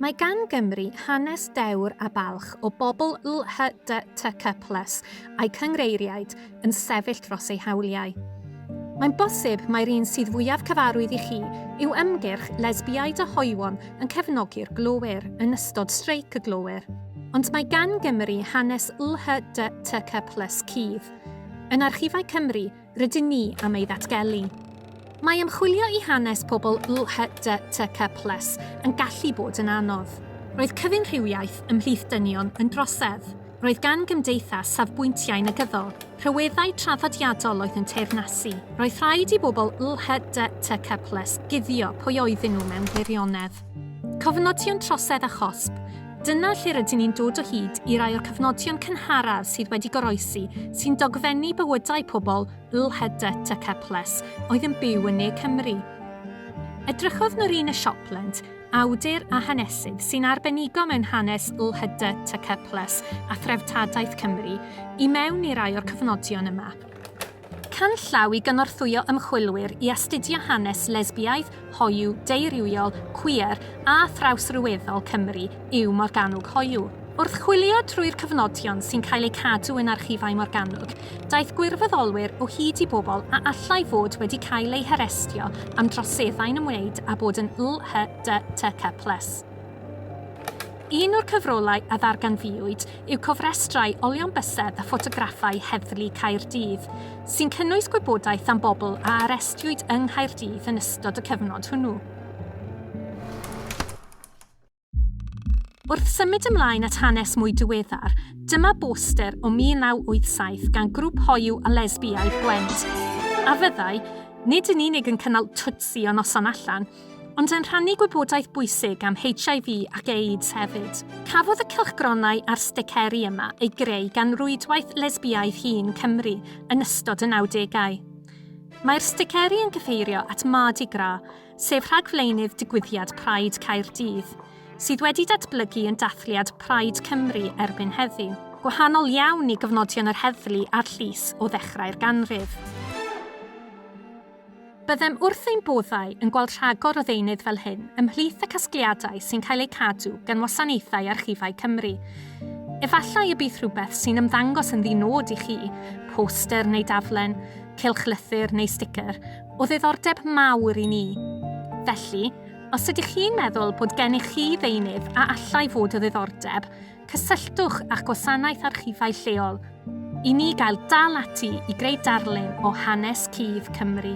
Mae gan Gymru hanes dewr a balch o bobl LHDTC plus a'i cynghreiriaid yn sefyll dros eu hawliau. Mae'n bosib mai'r un sydd fwyaf cyfarwydd i chi yw ymgyrch Lesbiaid a Hoywon yn cefnogi'r glowyr yn ystod streic y glowyr, ond mae gan Gymru hanes LHDTC plus cudd. Yn Archifau Cymru, rydyn ni am ei ddatgelu. Mae ymchwilio i hanes pobl LHDTC plus yn gallu bod yn anodd. Roedd cyfyn rhywiaeth ymhlith dynion yn drosedd. Roedd gan gymdeithas safbwyntiau negyddol, rhyweddau traddodiadol oedd yn teyrnasu. Roedd rhaid i bobl LHDTC plus guddio pwy oedden nhw mewn gwirionedd. Cofnodion trosedd a chosb, Dyna lle rydyn ni'n dod o hyd i rai o'r cofnodion cynharaf sydd wedi goroesi sy'n dogfennu bywydau pobl Lhyddet a Keples oedd yn byw yn ne Cymru. Edrychodd Norina Shopland, awdur a hanesydd sy'n arbenigo mewn hanes Lhyddet a Keples a threftadaeth Cymru, i mewn i rai o'r cofnodion yma. Canllaw i gynorthwyo ymchwilwyr i astudio hanes lesbiaidd, hoyw, deurywiol, cwiar a thrawsryweddol Cymru yw Morgannwg Hoyw. Wrth chwilio trwy'r cyfnodion sy'n cael eu cadw yn archifau Morgannwg, daeth gwirfoddolwyr o hyd i bobl a allai fod wedi cael eu harestio am droseddau'n ymwneud â bod yn LHDTC plus. Un o'r cyfrolau a ddarganfuwyd yw cofrestrau olion bysedd a ffotograffau Heddlu Caerdydd, sy'n cynnwys gwybodaeth am bobl a arestiwyd yng Nghaerdydd yn ystod y cyfnod hwnnw. Wrth symud ymlaen at hanes mwy diweddar, dyma boster o 1987 gan grŵp hoyw a lesbiaidd Gwent, a fyddai, nid yn unig yn cynnal twtsi o noson allan, ond yn rhannu gwybodaeth bwysig am HIV ac AIDS hefyd. Cafodd y cylchgronau a'r sticeri yma eu greu gan rwydwaith Lesbiaidd Hŷn Cymru yn ystod y nawdegau. Mae'r sticeri yn cyfeirio at Mardi Gras, sef rhagflaenydd digwyddiad Pride Caerdydd, sydd wedi datblygu yn dathliad Pride Cymru erbyn heddiw, gwahanol iawn i gofnodion yr heddlu a'r llys o ddechrau'r ganrif. Byddem wrth ein boddau yn gweld rhagor o ddeunydd fel hyn ymhlith y casgliadau sy'n cael eu cadw gan Wasanaethau Archifau Cymru. Efallai y bydd rhywbeth sy'n ymddangos yn ddi-nod i chi, poster neu daflen, cylchlythyr neu sticer, o ddiddordeb mawr i ni. Felly, os ydych chi'n meddwl bod gennych chi ddeunydd a allai fod o ddiddordeb, Cysylltwch â'ch gwasanaeth archifau lleol i ni gael dal ati i greu darlun o hanes cudd Cymru.